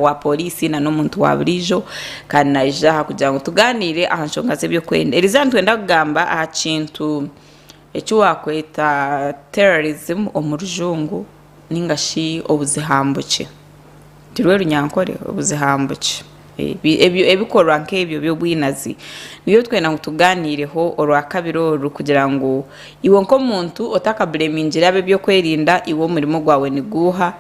wa pooriisi na n'omuntu wa buriijo kandi naija aha kugira ngu tugaaniire aha nshonga z'eby'okwerinda. Eriizooba nitwenda kugamba aha kintu eki waakweta terrorism omu rujungu nainga shi obuzihambukye. Nirwe runyankore? Obuzihambukye. Ebikorwa nk'ebyo by'obwinazi nibyo twenda ngu tugaaniireho orwakabiri oru kugira ngu iwe nk'omuntu otakabureemingire ab'eby'okwerinda iwe omurimo gwawe niguuha?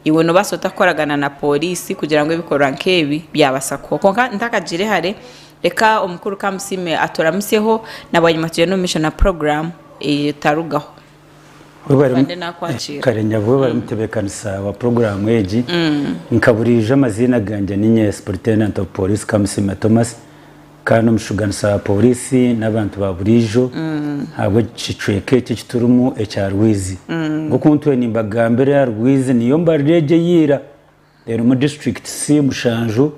Iwe noobaasa ota kukoragana na pooriisi kugira ngu ebikorwa nk'ebi byabaasa kuhwaho? Kwonka ntakagiire hare, reka Omukuru Kamusiime aturamutsyeho na bwanyima tugyende omu maisho na puroguraamu etarugaho. Afande naakwakiira. Kare nyabuhe bari mutebeekanisa wa puroguraamu egi. Nka buriijo amaziina gangye ni Nye Supuritendanti ofu Pooriisi Kamusiime Thomas. Kandi omushuganisa wa Pooriisi n'abantu ba buriijo ahabw'ekicweeka eki eki turimu ekya Rwizi. Nk'oku ntwire nimbagambira, Rwizi niyo mbariro egi ey'eira erimu districts mushanju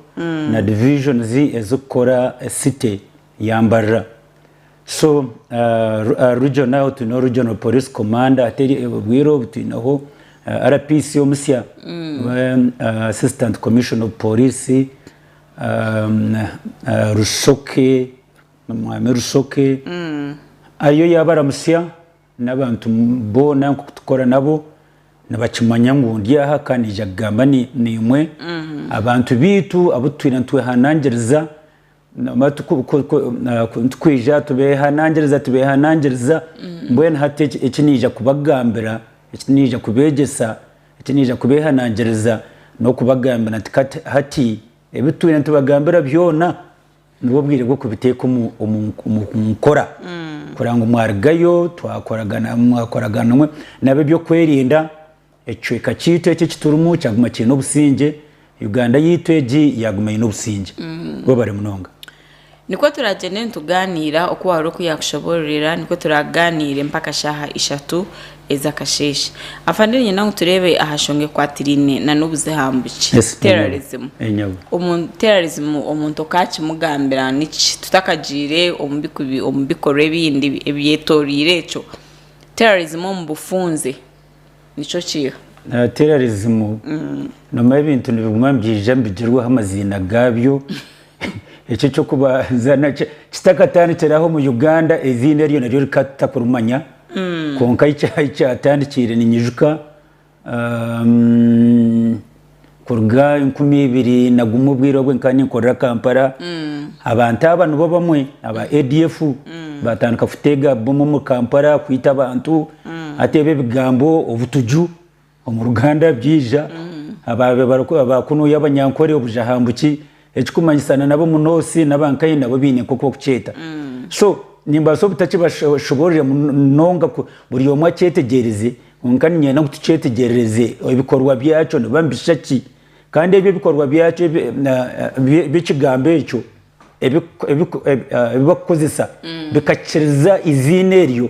na divisions ezirikukora city ya Mbarira. So aha region aho twineho Regional Police Commander hati obwire obu twineho RPC omusya, Assistant Commissioner of Police, Rusoke, Omwami Rusoke ariyo yaabaramutsya n'abantu boona nk'oku turikukora nabo, nibakimanya ngu ndi aha ka naija kugamba naimwe, abantu baitu abu tutaine nitwehanangiriza, turikwija tubeehanangiriza, tubeehanangiriza, mbwenu hati eki naija kubagambira, eki naija kubeegyesa, Eki naija kubeehanangiriza n'okubagambira nti, Kati hati ebitwine nitubagambira byona, nibwo bwire bw'okubiteeka omu nkora kureba ngu mwarugayo mwakoragana omwe n'ab'eby'okwerinda, ekicweka kyaitu eki ekiturimu kyaguma kiine obusingye Uganda yaitu egi yaguma eine obusingye. Webare munonga. Nikwo turagyende nitugaaniira oku waahurira oku yaakushoboororera nikwo turaaganiire mpaka shaaha ishatu ez'akasheeshe. Afande niinyenda ngu tureebe aha nshonga ekwatiraine na n'obuze ha mbuki, terrorism. Terrorism omuntu okaakimugambira niki tutakagiire omu bikorwa ebindi ebyetoreire ekyo, terrorism omu bufunze. nikyo kiiha. Nateerarizimu, Nomai ebintu nibiguma nibyija nibigirwaho amaziina gaabyo. Ekyo eky'okubanza nakyo kitakatandikire aho omu Uganda, eiziina eryo naryo rikaba tutakurimanya. Kwonka ahi kyatandikiire, niinyijuka. Kuruga enkumi ibiri na gumwe obwire obwe nkaba ninkorera Kampala, abantu aba nibo bamwe aba ADF batandika kutega bomu omuri Kampala kwita abantu, hati ebi ebigambo obutuju omu Ruganda byaija, aba abakunuya abanyankore obujahambuki. Ekikumanyisa na nabo munoosi naba nkaye nabo baine nkoku bakukyeta so nimbaasa obutakibashobororera munonga ku buri omwe akyetegyeereze kwonka niinyenda ngu tukyetegyereereze ebikorwa byakyo nibiba nibishusha ki kandi ebyo ebikorwa byakyo by'ekigambo ekyo ebi bakukozesa bikakiriza eiziina eryo.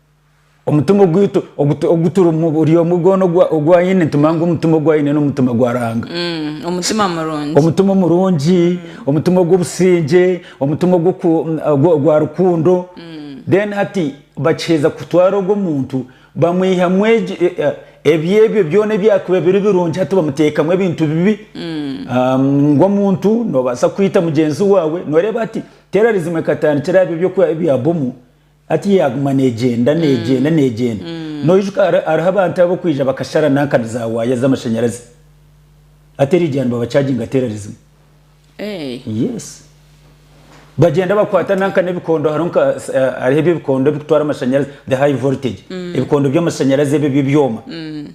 Omutima ogwitu oguturimu buri omwe gwona ogu aine, nitumanya ngu omutima ogu aine n'omutima gwa Ruhanga. Mm, omutima murungi. Omutima omurungi, omutima ogw'obusingye, omutima ogwa rukundo. Mm. Then hati bakiheza kutwara ogwo muntu bamwihamu e, e, ebyebyo byona ebyakuba biri birungi hati bamuteekamu ebintu bibi. Mm. Um, ng'omuntu nobaasa kwita mugyenzi waawe, noreeba hati terrorism ekatandikira aha bi ebyokuha ebya bomu. Hati yaaguma neegyenda, neegyenda, neegyenda. Noijuka hariho abantu ab'okwija bakashara nankani za waaya z'amashanyarazi. Hati eriija nibabacaginga terari zimwe. Yes. Bagyenda bakwata nanka n'ebikondo hariho nka hariho eby'ebikondo ebikutwara amashanyarazi, the high voltage. Ebikondo by'amashanyarazi ebyo eby'ebyoma.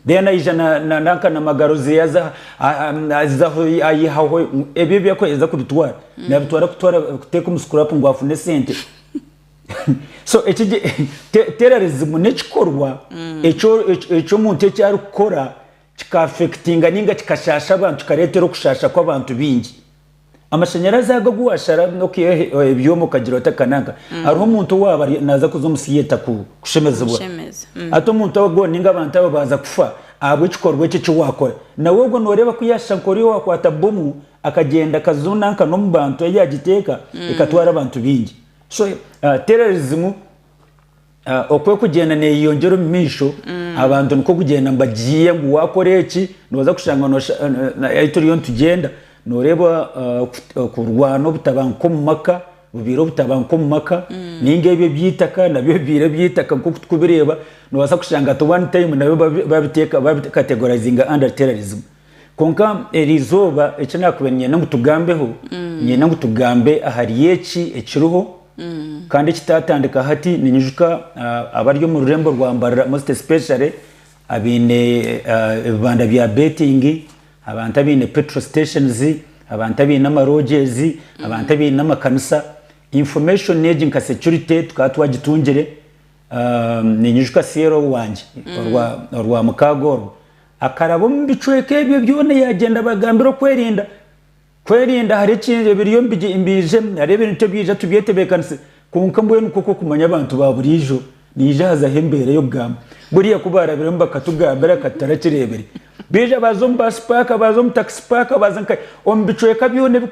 Then aija nanka na magaro ze aza azaho ayihaho ebyo ebi akwenda kubitwara, nabitwara kutwara kuteeka omu scrap ngu afune esente. So eki terrorism n'ekikorwa eky'omuntu eki arikukora kika affectinga ninga kikashaasha abantu kikareetera okushaasha kw'abantu baingi. Amashanyarazi ago agu waashara n'okwihaho ebyoma okagira ota aka n'aka, hariho omuntu owaaba naaza kuza omu theatre kushemezibwa. Hati omuntu ogwo ninga abantu abo baaza kufa ahabw'ekikorwa ekyo eki waakora, nawe ogwo nooreeba ku yaashusha nk'ori owaakwata bomu akagyenda akaza nanka n'omu bantu ahu yaagiteeka ekatwara abantu baingi. So terrorism oku erikugyenda neeyeyongyera omu maisho abantu nikwo kugyenda nibagihiiha ngu waakora eki nooza kushanga noosha- eh, na- ahi turiyo nitugyenda nooreeba ah, okut- okurwana obutabanguko omu maka bubaire obutabanguko omu maka nainga ebyo eby'eitaka nabyo bibaire eby'eitaka nk'oku turikubireeba noobaasa kushanga at one time nabyo babi- babiteeka babikategorizinga under terrorism Kwonka eri izooba eki naakubaire niinyenda ngu tugambeho, niinyenda ngu tugambe ahari eki ekiriho kandi ekitaatandika hati. Niinyijuka abari omu rurembo rwa Mbarara most especially abaine ebibanda bya betting, abantu abaine petrol stations, abantu abaine ama lodges, abantu abaine amakanisa, information egi nka security tukaba twagitungire. Niinyijuka Sierra owangye orwa mukaaga orwo Akaraba omu bicweka ebyo byona yaagyenda abagambira okwerinda. Kwerinda hariho ekindi ebiriyo nibiijemu, hariho ebintu ebyaija tubyetebeekanise kwonka mbwenu kwo kw'okumanya abantu ba buriijo naija hazaho embeera y'okugamba buriya ku baarabiremu bakatugambira ka tutarakireebire. Baija baaza omu baasi paaka, baaza omu takisi paaka, baaza nka omu bicweka byona ebi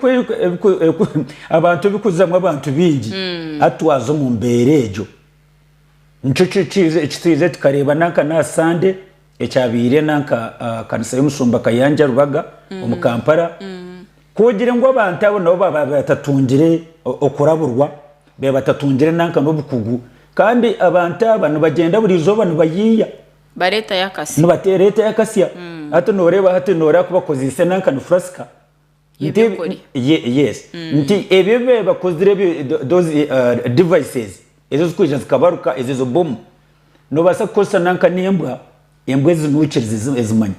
abantu ebikuzamu abantu baingi. Hati twaza omu mbeera egyo. Nikyo eki twije tukareeba nanka n'aha Sande. Ekyabaire nanka kanisa y'omushumba Kayanja Rubaga omu Kampala kugire ngu abantu abo nabo baaba batatungire okuraburwa, baaba batatungire nanka n'obukugu kandi abantu aba nibagyenda buri izooba nibayiiya. Nibareetayo akasya. Nibareetayo akasya. Hati noreeba hati noreeba kubakozeise nanka ni furasika. Nti yes nti ebyo ebibakozire ebyo those devices ezo zikwija zikabaruka ezo ezo bomu nobasa kukozesa nanka nembwa embwa ezinukire zizimanya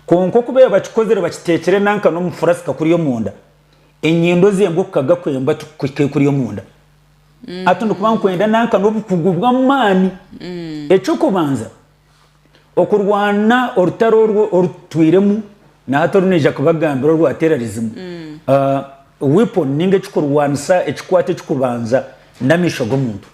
kwonka okuba bakikozire bakitekire nanka nomufurasika kuri omunda enyindo zembwa okukaga kwembwa tikukuhika ekuri omunda hati nokuba nikwenda nanka nobukugu bwamani ekyokubanza Okurwana orutaro orwo orutwiremu na hati orunaija kubagambira orwa terrorism, uh, weapon ninga ekikurwanisa ekikwata ekikubanza n'amaisho g'omuntu.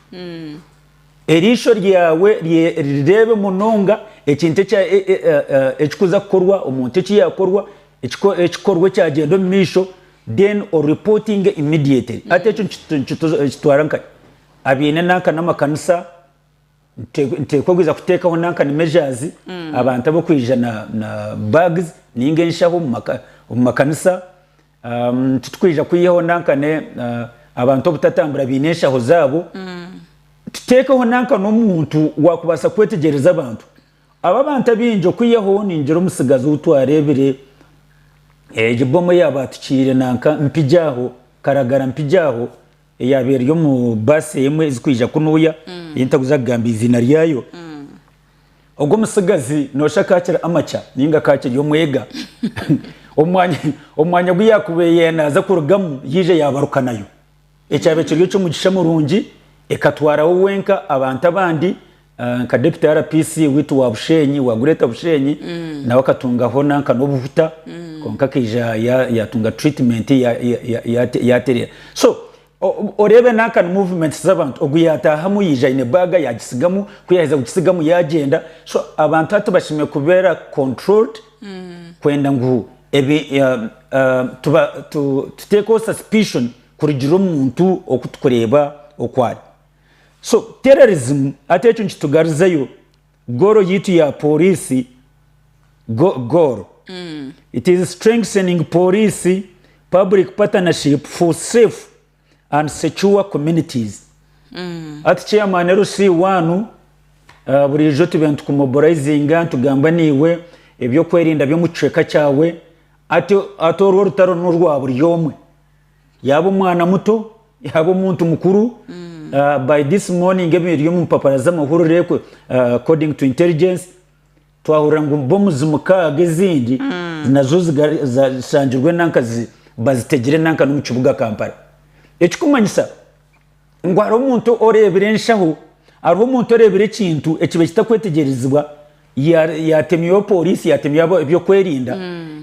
Eriisho ryawe rireebe munonga ekintu ekya, e, e, e, e, ekikuza kukorwa, omuntu eki yakorwa, ekiko, ekikorwa ekyagyenda omu maisho, then o reportinge immediately. Hati ekyo nikitwara nkahi? Abaine nanka n'amakanisa, Nteekwa kwija kuteekaho nanka ni measures abantu ab'okwija na na bags ninga enshaho omu makanisa. Titukwija kwihaho nanka ne abantu obutatambura baine enshaho zaabo. Tuteekeho nanka n'omuntu wakubaasa kwetegyereza abantu. Aba abantu abaingi okwihaho ningira omutsigazi ou twareebire egi bomu eyabaatukiire nanka mpigye aho karagara mpigye aho. Eyaaba eri omu baasi emwe ezirikwija kunuya, ei ntarikuza kugamba eiziina ryayo, ogwo omutsigazi noshusha akakira amakya nainga akakiri omwega. Omwanya ogu yaakubaire naaza kurugamu yaija yaabaruka nayo. Ekyabaire kiri eky'omugisha murungi, ekatwara we wenka abantu abandi. Nka Deputy RPC witu wa Bushenyi, wa Greater Bushenyi, nawe akatungaho nanka n'obuhuta kwonka akaija yatunga treatment yaterera. So oreebe nanka ni movements z'abantu. Ogu yatahamu yaija aine bag yagisigamu, ku yaheza kugisigamu yagenda. So abantu hati bashemereire kubera controlled kwenda ngu tutekeho suspicion kurugiirira omuntu oku tukureba oku ari. So terrorism hati ekyo nikitugarizeyo goal yitu ya police goal it is strengthening police public partnership for safe and secure communities hati chairman LC one ah, burijo tube nitukumobilizinga nitugamba naiwe ebyokwerinda byomu kicweka kyawe hati hati orwo orutaro norwa buri omwe. Yaaba omwana muto, yaaba omuntu mukuru, ah, by this morning ebiri omu mpapara z'amahurire ku- ah, according to intelligence twahurira ngu bomuzi mukaaga ezindi nazo ziga- za- zishangirwe nanka zi- bazitegire nanka n'omu kibuga Kampala ekikumanyisa Ngu hariho omuntu oreebire enshaho, hariho omuntu oreebire ekintu ekiba kitakwetegyerezibwa, yaatemywayo pooriisi, yaatemywayo eby'okwerinda,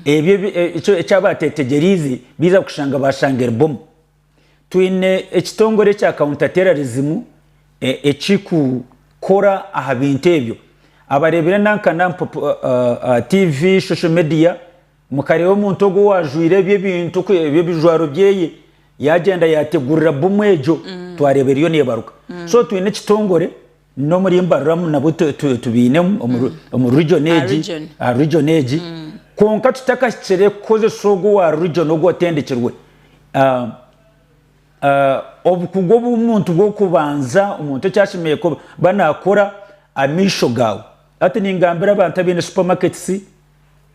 ebyo eki aba ateetegyereize baiza kushanga baashanga eri bomu. Twine ekitongore ekya Counter Terrorism ekirikukora aha bintu ebyo. Abareebire nanka na tiivi, social media. Mukareeba omuntu ogwo owaajwaire ebyo ebintu, ebyo ebijwaro byeye, yaagyenda yaategurira bbomu egyo, twareeba eriyo neebaruka. So twine ekitongore n'omuri mbaruramu nabwo tubiinemu omu region egi, aha region egi, kwonka tutakahikire kukozesa ogwo owa region ogu otendekirwe. Obukugu obu omuntu bw'okubanza omuntu eki ashemereire kuba naakora, amaisho gaawe. Hati ningambira abantu abaine supermarkets,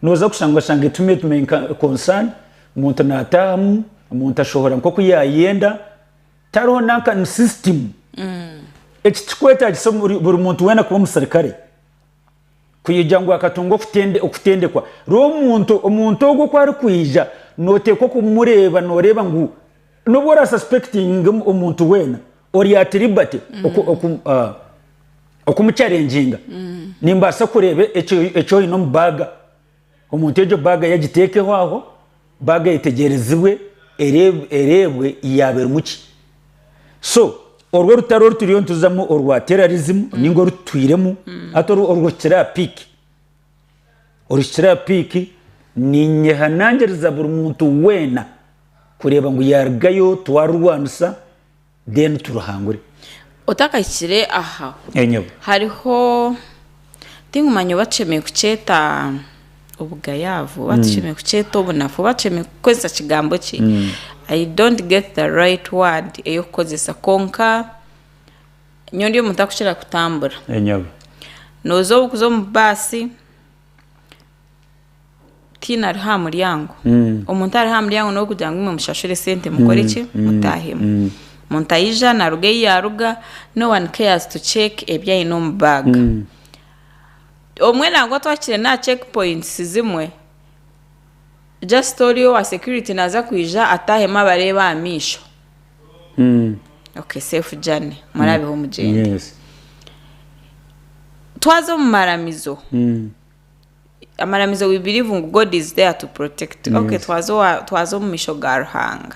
Nooza kushanga oshange it met my concern, omuntu naataahamu, omuntu ashohora nk'oku yaayenda, tariho nanka ni system. Eki tikikwetaagisa buri muntu weena kuba omuserikare, kwija ngu akatunga okutendekwa. Reero omuntu, omuntu ogwo oku arikwija, nooteekwa kumureeba, nooreeba ngu n'obu oraasaspectinge omuntu weena, Ori at liberty okumucharenginga nimbaasa kureeba eki oine omu baaga. Omuntu egyo baaga ye agiteekeho aho, baaga eyetegyerezibwe ereebwe yaaba erimu ki. So orwo orutaro oru turiyo nituzamu orwa terrorism nainga oru tutwiremu hati oru oruhikire aha peak, oruhikire aha peak niinyehanangiriza buri muntu weena kureeba ngu yaarugayo twarurwanisa. then turuhangure. Otakahikire aha, Enyobe. hariho tingumanya oba tushemereire kukyeta obugayaavu, oba tushemereire kukyeta obunafu, oba tushemereire kukozesa kigambo ki, I don't get the right word ey'okukozesa kwonka nyowe ndi omuntu arikukira kutambura, Enyobe. nooza orikuza omu baasi, tihaine ariho aha muryango omuntu ariho aha muryango niwe kugira ngu imwe mushashure sente mukore ki mutaahemu omuntu aija naaruga ei yaaruga no one cares to check ebi aine omu bag obumwe nangwa twahikire n'aha check points zimwe just oriyo owa security naaza kwija ataahemu abareeba aha maisho okay safe journey muraabeho mugyende Yes. twaza omu maramizo amaramizo we believe ngu God is there to protect you. Okay, Yes. twaza owa- twaza omu misho ga Ruhanga.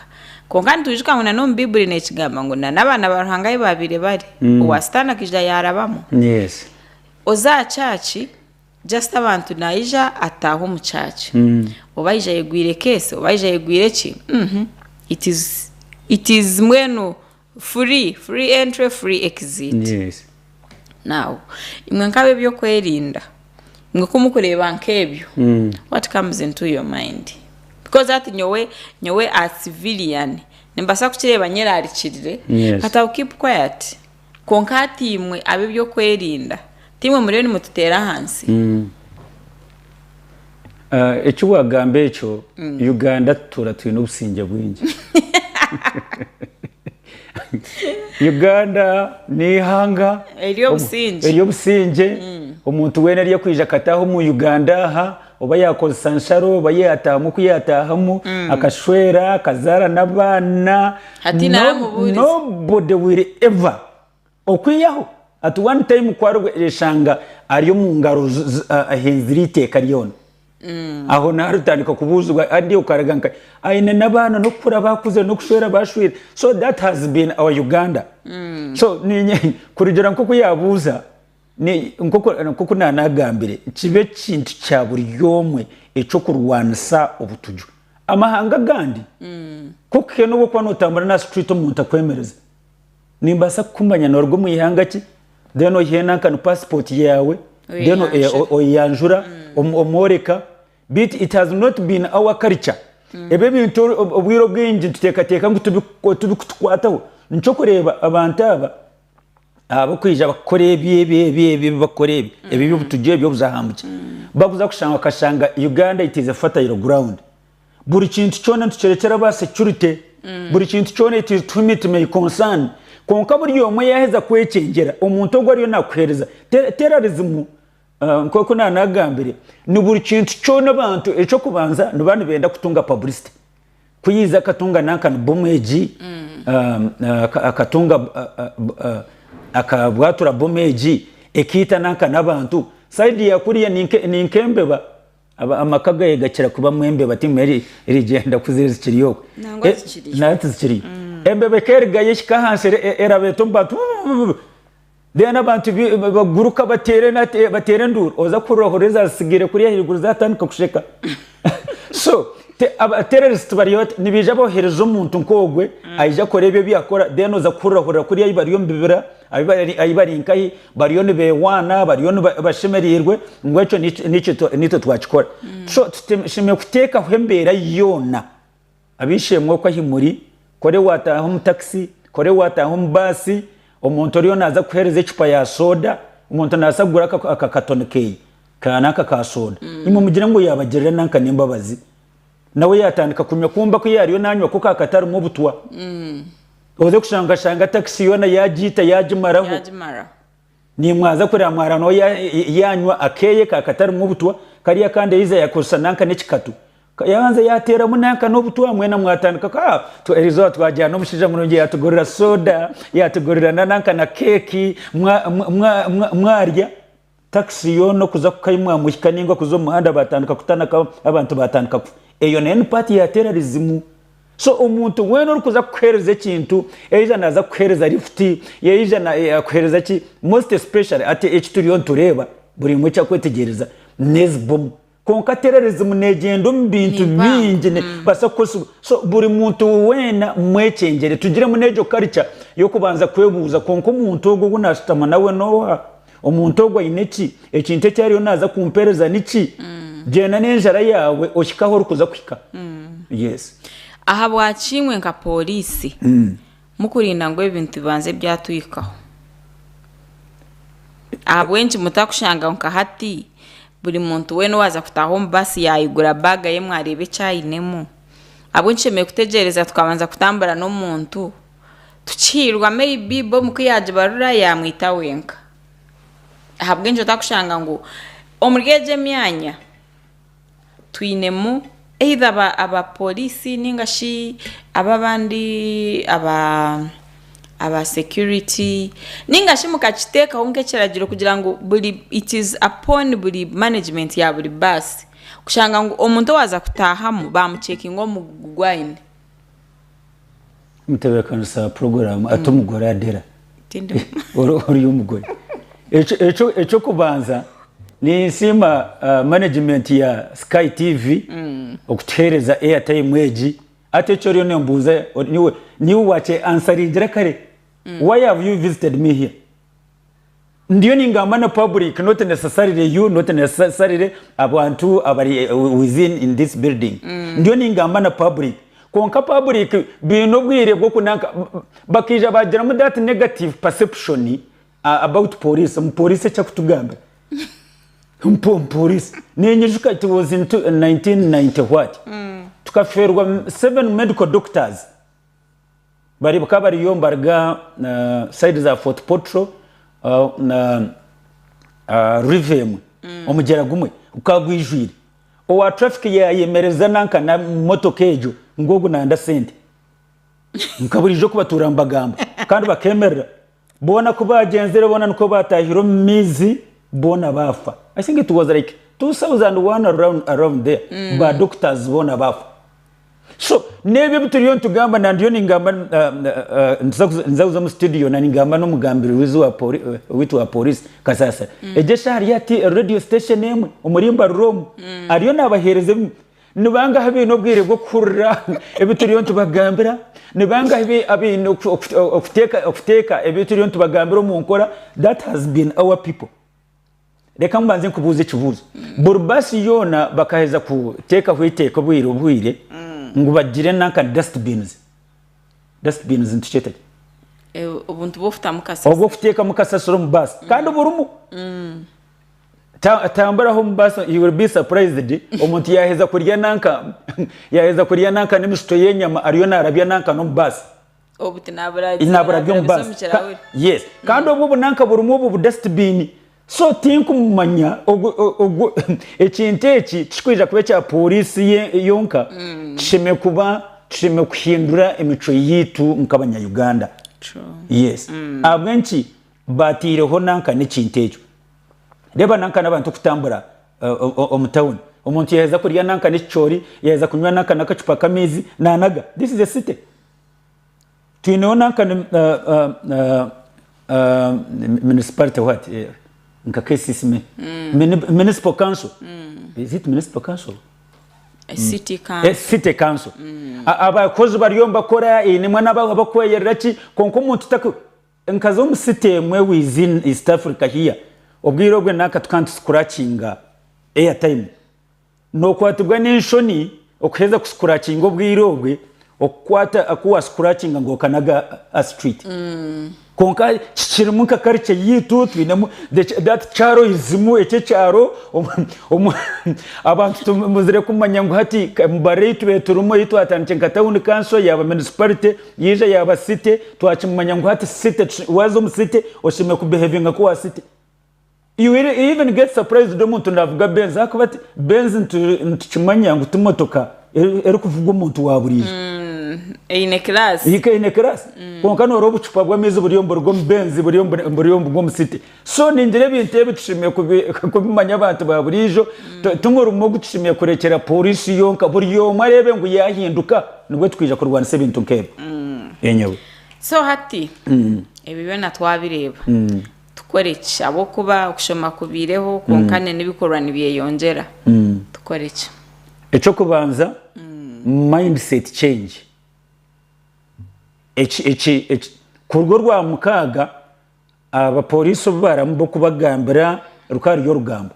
Konka nitwijuka ngu nana omu Bibuli nekigamba ngu nana abaana ba Ruhanga ahi babaire bari, Mm. owa Sitaani akaija yarabamu. Yes. Oza aha kyaki, just abantu nayija ataaha omu kyaki. Mm. Oba ayija ayegwire keesi, oba ayija ayegwire ki, mhm. It is- it is mbwenu Free free entry free exit Yes. now imwe nka ab'ebyokwerinda imwe ku mukureeba nk'ebyo what comes into your mind because hati nyowe nyowe a civilian nimbaasa kukireeba nyerarikirire Yes. but I'll keep quiet kwonka hati imwe ab'ebyokwerinda ti imwe muriyo nimututeera ahansi Eki wagamba ekyo Uganda tutuura twine obusingye bwingi. Uganda neihanga ery'obusingye omuntu weena arikwiija akataaha omu Uganda aha oba yakozesa nsharo oba yatahamu oku yatahamu akashweera akazaara n'abaana nobody will ever Okwihaho at one time ku areshanga ari omu ngaro ahenzire eiteeka ryona, aho niho aritandika kubuuzibwa adi okaraga nka aine n'abaana n'okukura bakuzire n'okushwera bashwire so that has been our Uganda so kurugira nk'oku yabuuza nk'oku nanagambire kibe ekintu kya buri omwe eky'okurwanisa obutuju. Amahanga agandi nk'oku hine obu orikuba notambura naha street omuntu akwemereze. Nimbaasa kukumanya noruga omu ihanga ki then oyihe nanka nu passport yaawe then oyeyanjura mm. omworeka beitu it has not been our culture mm. ebyo ebintu obwire obwingi nituteekateeka ngu tibikutukwataho nikyo okureeba abantu aba abakwija bakukora ebi ebi ebi ebi bakukora ebi ebi ebyobutujju ebi obuzahambukye bakuza kushanga bakashanga Uganda it is a fertile ground buri kintu kyona nitukirekyera ba security mm. buri kintu kyona it is to whom it may concern kwonka buri omwe yaheza kwecengyera omuntu ogu ariyo nakuhereza terrorism uh, nkoku na nagambire ni buri kintu kyona abantu ekyokubanza niba nibenda kutunga publicity kuyiza akatunga nanka ni bomu egi mm. um, uh, akatunga uh, akabwatura bomu egi ekiita nanka n'abantu saidi yakuriya ninkembeba Amaka gaye gakira kubamu embeba timu erigyenda ku ziri zikiri okwe. Nangwa tizikiriyo. Embeba ekerigayo ehika ahansi erabeta omu bantu buu then abantu baguruka bateera enduuru oza kuhurira ohurira ezazitsigire kuri ahaiguru zatandika kusheka so abatererezi bari bata nibaija bohereza omuntu nkogwe aija akora ebyo ebiyakora then oza kuhurira ohurira kuri ahu bari omu bibira. Ahi bari nkahi bariyo nibehwaana, bariyo bashemereirwe, ngu ekyo nikyo naitwe twakikora. So tushemereire kuteekaho embeera yoona. Ab'eishe-emwe okwo ahi muri, kore waataaha omu takisi, kore waataaha omu baasi, omuntu oriyo naaza kukuheereza ecupa ya sooda, omuntu naabaasa kugura aka katoni keeye ka nanka ka sooda, imwe mugire ngu yaabagirira nanka n'embabazi. nawe yatandika kunywa kumba ku yariyo nanywa ko kakatarimu obutwa mm. oze kushanga okashanga takisi yoona yagiita yagimaraho nimwaza kureba mwara nawe yanywa akeye kakatarimu obutwa kari akandi yaiza yakozesa nanka n'ekikatu yabanza yateeramu nanka n'obutwa mwena mwatandika ku ah, erizooba twajyana omushaija murungi yatugurira soda yatugurira nanka na keeki mwarya mwa, mwa, mwa, Takisi yoona okuza kukaimwamu ehika nainga kuza omu muhanda baatandika kutanaka abantu baatandika kufa. Eyo nayo ni paati ya terarizimu. So omuntu weena orikuza kukuheereza ekintu, yaija naaza kukuheereza lifuti, yaija naakuheereza ki, most especially hati eki turiyo nitureeba buri omwe eki arikwetegyereza n'ezi bomu Kwonka tererizimu neegyenda omu bintu bingi neebaasa kukoresibwa. So buri muntu weena mwekyengyere. Tugiremu n'egyo karica y'okubanza kwebuuza, Kwonka omuntu ogwo ou naashutama nawe n'oha? Omuntu ogwo aine ki? Ekintu eki ariyo naaza kumpeereza niki? Gyenda n'enjara yaawe ohike ahu orikuza kuhika. Yes. Ahabwaki imwe nka pooriisi? Mukurinda ngu ebintu bibanze byatuhikaho. Ahabw'enki mutakushangaho nka hati buri muntu weena owaaza kutaaha omu baasi yaayigura baaga ye mwareeba eki ainemu? Ahabw'enki tushemereire kutegyereza tukabanza kutambura n'omuntu tukihiirwa maybe bomu ku yaagibarura yaamwita wenka? Ahabw'enki otakushanga ngu omuri egyo emyanya, Twinemu either ba aba police ninga shi aba abandi aba aba security ninga shi mukakiteekaho nk'ekiragiro kugira ngu buri it is upon buri management ya buri bus kushanga ngu omuntu owaza kutahamu bamucheckinga omu gu gu gwine. Mutebeekanisa puroguraamu ati omugore adera ori omugore. Eky'okubanza ninsiima managimenti ya Sky TV okutuheereza airtime egi. Hati eki oriyo nimbuuza niiwe wakyeansaringire kare, why have you visited me here? Ndiyo ningamba na public not necessarily you not necessarily abantu abari within in this building ndiyo ningamba na public kwonka public baine obwire bwoku nanka bakaija bagiramu that negative perception about police ngu police eki akutugambira ngu police ninyijuka it was in 1990 what tukaferwa seven medical doctors. Bari bakaba bariyo nibaruga side za Fort Portal na river emwe, omugyera gumwe gukaba gwijwire. Owa traffic yayemereza nanka na motoka egyo ngu ogu nanda sente. Nka burijo kubatuura nibagamba kandi bakemerera. Boona ku baagyenzire, boona nikwo baataahire omu maizi, boona baafa. I think it was like 2,001 around, around there, mm. ba doctors boona baafa. So, n'ebyo ebi turiyo nitugamba, na ndiyo ningamba, um, uh, uh, nza kuza omu studio na ningamba n'omugambirizi wa poli, uh, witu wa polisi Kasasira. Mm. Egyo eshaaha hariyo ati radio station emwe omuri mbarura omu, mm. ariyo naabaheereza ebimu. Ni bangahi abaine obwire bw'okuhurira ebi turiyo nitubagambira? Ni bangahi abaine okuteeka ebi turiyo nitubagambira omu nkora? That has been our people. Reka mbanze nkubuuze ekibuuzo. Buri baasi yoona bakaheza kuteekaho eiteeka obwire obwire ngu bagire nanka dust bins. Dust bins nitukyeta ki? Obuntu bw'okutamu kasasiro. Obw'okuteekamu kasasiro omu baasi. Kandi burimu. Tambura home bus you will be surprised omuntu yaheza kurya nanka yaheza kurya nanka n'emishito y'enyama ariyo narabya nanka n'omu bus. Obuti naburabya omu bus. Yes kandi mm. obwo obunanka burimu obwo bu dustbin so tinkumumanya ogwo ekintu eki tikikwija kuba ekya polisi yonka mm. tusheme kuba tusheme kuhindura emicwe yitu nk'abanyayuganda yes mm. abwenki Baataireho nanka n'ekintu ekyo. Reeba nanka n'abantu kutambura omu tawuni. Omuntu yaaheza kurya nanka n'ekicoori, yaaheza kunywa nanka n'akacupa k'amaizi, naanaga. This is a city. Twineho nanka municipality what? Nka KCC, municipal council, is it municipal council? A city council. A city council. Abakozi bariyo nibakora, einemu n'abakweyerera ki, kwonka omuntu ta. Nkaza omu city emwe within East Africa here, obwire obwe naka tukaba nituscratchinga airtime. Nokwatibwa nenshoni okuheza ku scratchinga obwire obwe okukwata aku wa scratchinga ngu okanaga aha street. Kwonka kikirimu nka culture yaitu twinemu that charoism ekyo ekyaro abantu tumazire kumanya ngu hati emibarira eyitube turimu eyitwatandikire nka town council yaba municipality. Yaija yaaba city twakimumanya ngu hati city waaza omu city oshemereire ku behavinga ku owa city you will even get surprised omuntu naavuga benz ahakuba ati benz nitukimanya ngu ti motoka erikuvugwa omuntu wa buriijo Eine class. Heike eine class kwonka noora obucupa bw'amaizi buriyo niburuga omu benz buriyo niburuga omu city So ningira ebintu ebi tushemereire kubimanya abantu ba buriijo, ti murimo ogu tushemereire kurekyera pooriisi yonka. Buri omwe areebe ngu yaahinduka nibwo twija kurwanisa ebintu nk'ebi. Enyewe. So hati ebyo byona twabireeba, tukore ki? Ahabw'okuba okushoma kubaireho kwonka n'ebikorwa nibyeyongyera. Tukore ki? Eky'okubanza, mindset change. Kuruga orwamukaaga. Abapooriisi obu baaramu b'okubagambira rukaba ruri orugambo,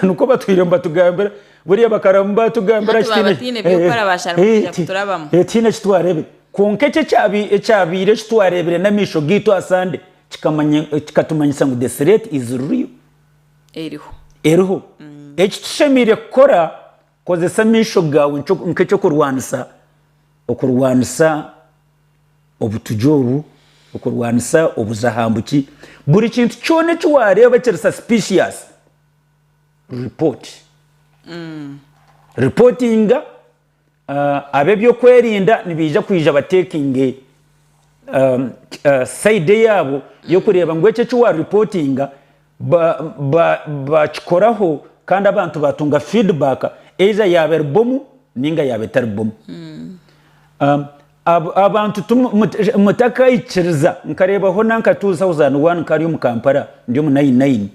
nikwo batwire nibatugambira, buriya bakaramu baatugambira Hati baaba tihaine by'okukora baashara kuija kuturabamu. Ee, tihaine eki twareebire. Kwonka eki ekyabaire eki twareebire n'amaisho gaitu aha Sande kikatumanyisa ngu the threat is real. Eriho. Eriho. Eki tushemereire kukora. Kozesa amaisho gaawe nk'eky'okurwanisa okurwanisa obutugye obu, okurwanisa obuza aha mbu ki. Buri kintu kyona eki waareeba kiri suspicious, report. Reportinga ab'ebyokwerinda nibaija kwija ba takinge side yaabo y'okureeba ngu eki eki wa reportinga. Baakikoraho kandi abantu baatunga feedback either yaaba eri bomu nainga yaaba etari bomu. Abantu mutakaikiriza, nkareebaho nankatuuzi house and one nkari omu Kampala ndi omu nine nine,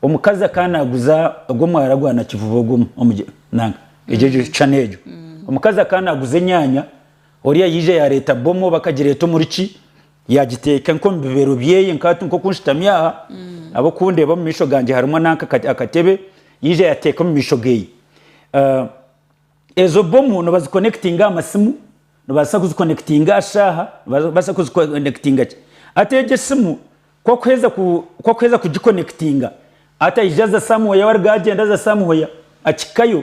omukazi akaba naaguza ogwo mwaara gwa Nakivubo ogwo nanga egyo egyo channel egyo. Omukazi akaba naaguza enyaanya, oriya yaija yaareeta bomu oba akagireeta omuri ki, Yaagiteeka nk'omu bibeero byeye, nk'ati nk'oku nshutami aha, nabwo ku ndeeba omu maisho gangye harimu nanka akatebe, yaija yateeka omu maisho geye. Ezo bomu nibazikonekitinga aha masimu, nibabaasa kuzikonekitinga aha shaaha, nibabaasa kuzikonekitinga ki. Hati egyo esimu ku arikuheeza ku, ku arikuheeza kugikonekitinga, hati aija aza somewhere, ahu arikugyenda aza somewhere, akihikayo.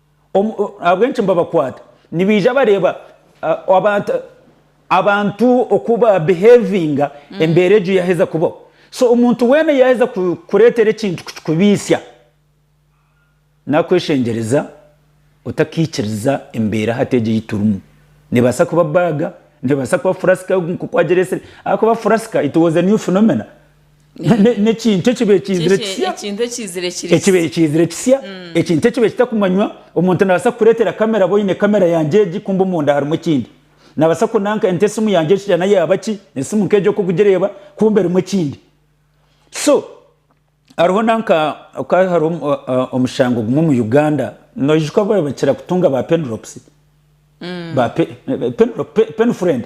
Ahabw'enki nibabakwata? Nibaija bareeba abantu oku ba behavinga embeera egyo yaaheza kubaho. So omuntu weena yaaheza kukureetera ekintu kukikubiitsya, naakweshengyereza otakaikiriza embeera hati egi ei turimu. Neebaasa kuba baaga, neebaasa kuba furasika nk'oku wagireetsire. Ahakuba furasika, it was a new phenomena. N'ekintu ekibaire kiizire kisya. Ekintu ekiizire kiri kisya. Ekibaire kiizire kisya. Ekintu ekibaire kitakumanywa. Omuntu naabaasa kukureetera kamera ba oine kamera yangye egi kumbe omunda harimu ekindi. Naabaasa kunanka nti esimu yangye egi shana yaaba ki, esimu nk'egi oku orikugireeba kumbe erimu ekindi. So hariho nanka hakaba hariho omushango gumwe omu Uganda, noijuka obu babaire bakira kutunga ba penrops, ba penfriend.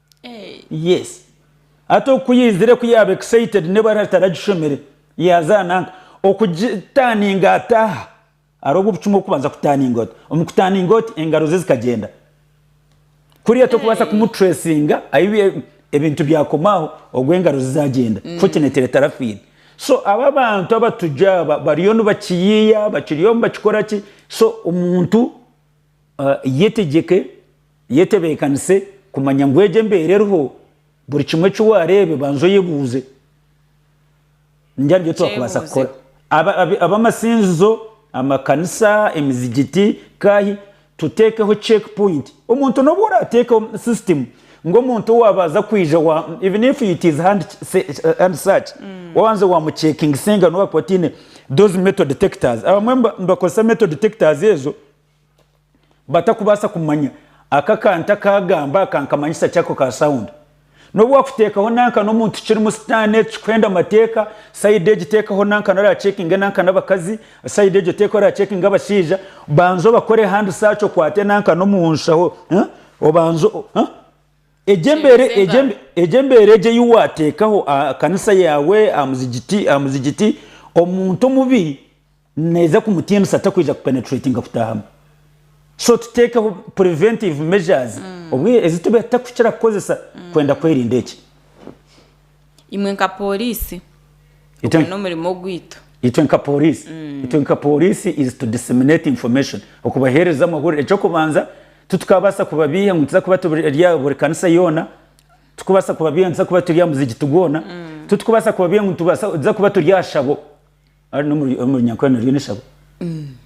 Yes hati oku yaizire ku yaaba excited n'obu arari taragishomire yaaza nanka okugitaninga ata aha hariho obucuma okubanza kutaninga ota omu kutaninga oti engaro ze zikagyenda kuriya tokubaasa kumu tracinga ahu ebintu byakoma aho ogu engaro ze zagyenda fortunately tarafiire so aba abantu abatujju aba bariyo nibakiyiya bakiriyo nibakikora ki so omuntu Yetegyeke, yetebeekanise kumanya ngu egyo embeera eriho, buri kimwe eki waareebe banza oyebuuze ngu nibyo twakubaasa kukora. Ab'amasinzizo, amakanisa, emizigiti, nkaahi, tuteekeho check point. Omuntu n'obu oraateekeho system ngu omuntu waaba aza kwija even if it is hand search, waabanza waamuchekingisa engano waakuba otaine those metal detectors. Abamwe nibakozesa metal detectors ezo. batakubaasa kumanya aka akantu aku agamba aka nkamanyisa ki ako ka sound. Nobu wakuteekaho nanka n'omuntu kirimu sitaane tikikuhenda mateeka, side egi teekaho nanka nari achekinge nanka n'abakazi, side egyo teekaho ori achekinge abashaija, banza obakore hand search okwate nanka n'omu nshaho obanze egyo embeera egyo embeera egyo ei wateekaho aha kanisa yaawe, aha muzigiti, aha muzigiti omuntu omubi Neeza kumutiinisa takwija ku penetratinga kutaahamu. So tuteekeho preventive measures obwiire ezi tubiha tutakukira kukozesa kwenda kwerinda eki. Imwe nka Pooriisi, ogwo Itwe- n'omurimo ogwitu. Itwe nka Pooriisi, itwe nka Pooriisi is to disseminate information, okubaheereza amahurire. Eky'okubanza, titukabaasa kubabiiha ngu nituza kuba turi eri aha buri kanisa yoona, titukubaasa kubabiiha ngu nituza kuba turi aha muzigiti gwoona, titukubaasa kubabiiha ngu nitubaasa nituza kuba turi aha shabo. Ari n'omuri omuri nyankore naryo n'eshabo.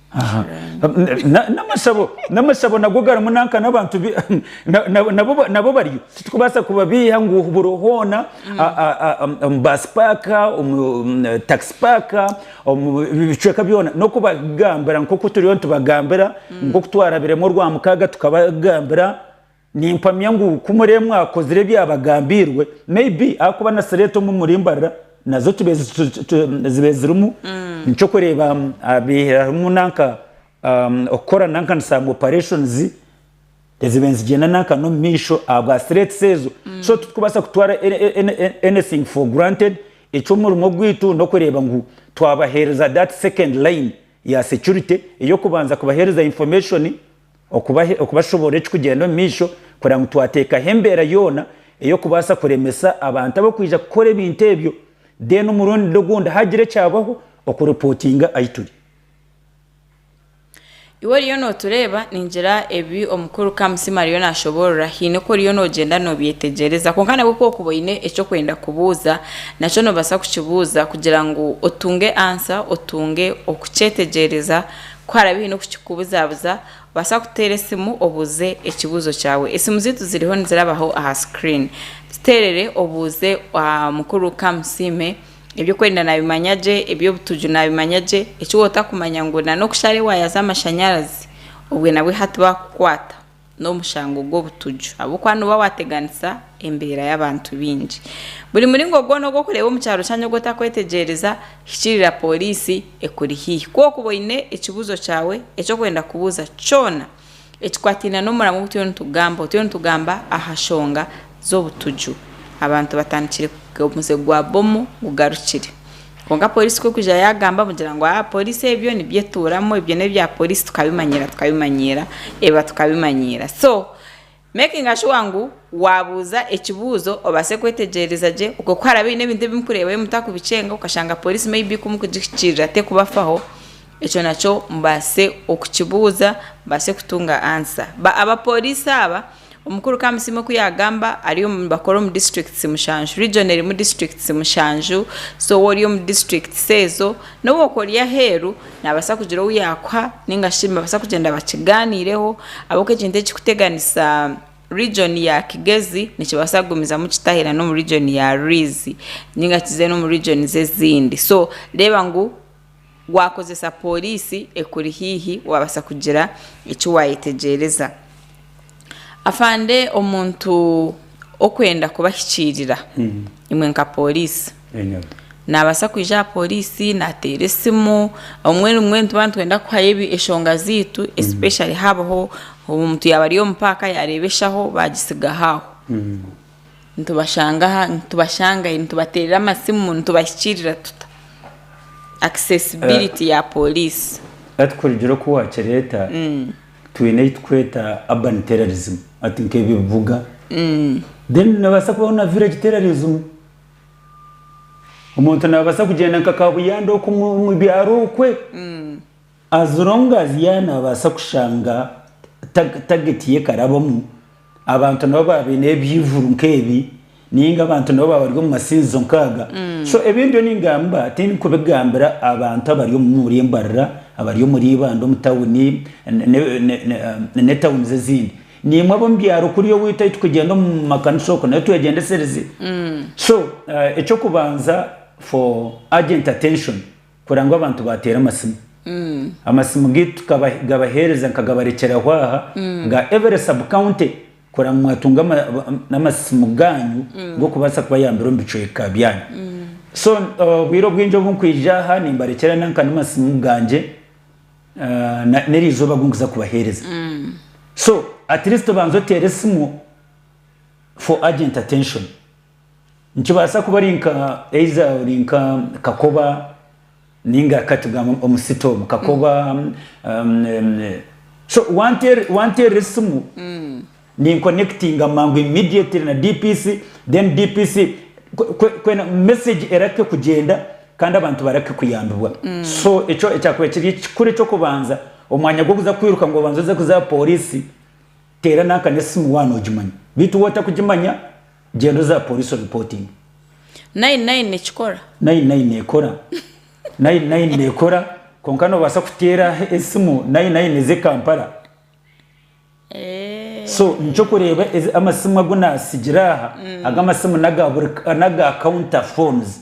Aha. Na- N'amashabo, n'amashabo nago garimu nanka n'abantu bi- na- na- nabo ba- nabo bariyo. Titukubaasa kubabiiha ngu buri hoona a- a- a- omu- omu baasi paaka, omu omu takisi paaka, omu bi- bicweka byona. N'okubagambira nk'oku turiyo nitubagambira, nk'oku twarabiremu Orwamukaaga tukabagambira. Nimpamya ngu ku muree mwakozire ebyabagambiirwe, maybe ahakuba na slate omu muri mbarira nazo zibaire zirimu nkyokureeba habaire harimu nanka okukora nanka nisanga operations ezibaire nizigyenda nanka nomu maisho ahabwa slates ezo so titikubaasa kutwara anything for granted, ekyomurimo ogwiitu nokureeba ngu twabaheereza that second line ya security eyokubanza kubaheereza information. okubashoboorora ekirikugyenda omu maisho kureba ngu twateekaho embeera yoona ey'okubaasa kuremesa abantu abarikwija kukora ebintu ebyo then omurundi ogundi haagira ekyabaho okuripootinga ahi turi. Iwe oriyo nootureeba, ningira ebi Omukuru Kamusima ariyo naashoboorora haine oku oriyo noogyenda noobyetegyereza kwonka nabwo ku orikuba oine eki orikwenda kubuuza nakyo noobaasa kukibuuza kugira ngu otunge ansa, otunge okukyetegyereza Ku harabaho oine okukikubuzabuza, obaasa kuteera esimu obuuze ekibuuzo kyawe. Esimu zaitu ziriho nizirabaho aha screen. Ziteerere obuuze Mukuru Kamusiime, Eby'okwerinda naabimanya gye? Eby'obutuju naabimanya gye? Eki wotakumanya ngu na n'oku shaaha eri waayaza amashanyarazi, obwe nabwe hati baakukwata. n'omushango gw'obutuju ahabw'okuba nooba waateganisa embeera y'abantu baingi. Buri muringo gwona ogw'okureeba omu kyaro kyanyu ogu otakwetegyereza, hikirira pooriisi ekuri haihi. Ku okuba oine ekibuuzo kyawe eki orikwenda kubuuza kyona ekikwataine n'omuramwa ogu turiyo nitugamba, obu turiyo nitugamba aha nshonga z'obutuju, abantu batandikire kugaruka, omuze gwa bomu gugarukire, Kwonka Poliisi ku erikuza yaagamba mugira ngu aa Poliisi ebyo nibyo etuuramu, ebyo n'ebya Poliisi tukabimanyiira tukabimanyiira eba tukabimanyiira. So makinga shuwa ngu waabuuza ekibuuzo obaase kwetegyereza gye okwe ku haraabe haine ebintu ebi murikureebayo mutarikubikyenga okashanga Poliisi maybe ku mukugihikirira terikubafaho, ekyo nakyo mubaase okukibuuza mubaase kutunga answer. Ba Abapoliisi aba Omukuru Kamusiime oku yaagamba ari omu nibakora omu districts mushanju. Region erimu districts mushanju so waaba ori omu districts ezo n'obu orikuba ori aheeru naabaasa kugira ou yaakuha nainga shi nibabaasa kugyenda bakigaaniireho ahabw'okuba ekintu ekirikuteganisa region ya Kigezi nikibaasa kugumizamu kitahika n'omu region ya Rwizi nainga kize n'omu regions ezindi so reeba ngu Waakozesa pooriisi ekuri haihi waabaasa kugira eki waayetegyereza. Afande omuntu okwenda kubahikiirira imwe nka pooriisi, naabaasa kwija aha pooriisi naateera esimu, obumwe obumwe nituba nitwenda kuhayo enshonga zaitu especially haabaho omuntu yaaba ari omu paaka yaareeba eshaho baagitsigaho aho. Nitubashanga aha? Nitubashanga hi? Nitubateerera amasimu? Nitubahikiirira tuta? Accessibility ya pooriisi. Hati kurugira oku waakireeta, twine ei turikweta urban terrorism, hati nk'ebibuga. Then noobaasa kubaho na village terrorism. Omuntu naabaasa kugyenda nka Kaabuyanda oku omu byaro okwe. As long as yaaba naabaasa kushanga target ye ekarabamu, abantu nabo baaba baine ebyihuri nk'ebi, nainga abantu nabo baaba bari omu masinzizo nk'aga, so ebi ndiyo ningamba tindikubigambira abantu abari omuri Mbarara, abari omuri Ibanda omu tawuni, ne tawunizi ezindi, naimwe ab'omu byaaro kuriya oweitu ahu turikugyenda omu makanisa okwo naitu twegyendesereze, so eky'okubanza for urgent attention. Kurora ngu abantu baateera amasimu. Amasimu gaitu tukabaheereza nkagabarekyeraho aha ga every sub county kurora ngu mwatunga n'amasimu gaanyu g'okubaasa kubayambira omu bicweka byanyu. So obwire obwingi obu nkwija aha nimbarekyera nanka n'amasimu gangye n'erizooba ogu nkuza kubaheereza. So at least obanza oteera esimu for urgent attention. Nikibaasa kuba ari nka eiza ori nka kakoba ninga ka tugambe omu sitomu kakoba so wanteerera esimu ninkonekitinga mangu immediately na DPC then DPC kwena message erake kugyenda kandi abantu barake kuyambibwa so ekyo ekyakubaire kiri ekikuru eky'okubanza omwanya gw'okuza kwiruka ngu obanze oze kuza aha poriisi. Teera nanka n'esimu waaba noogimanya beitu waaba otarikugimanya, gyenda oza pooriisi oripootinge. Nine Nine nikikora? Nine Nine neekora. Nine Nine neekora kwonka noobaasa kuteera esimu Nine Nine eze Kampala. So nikyo orikureeba amasimu agu naatsigira aha, ago amasimu n'aga counter phones.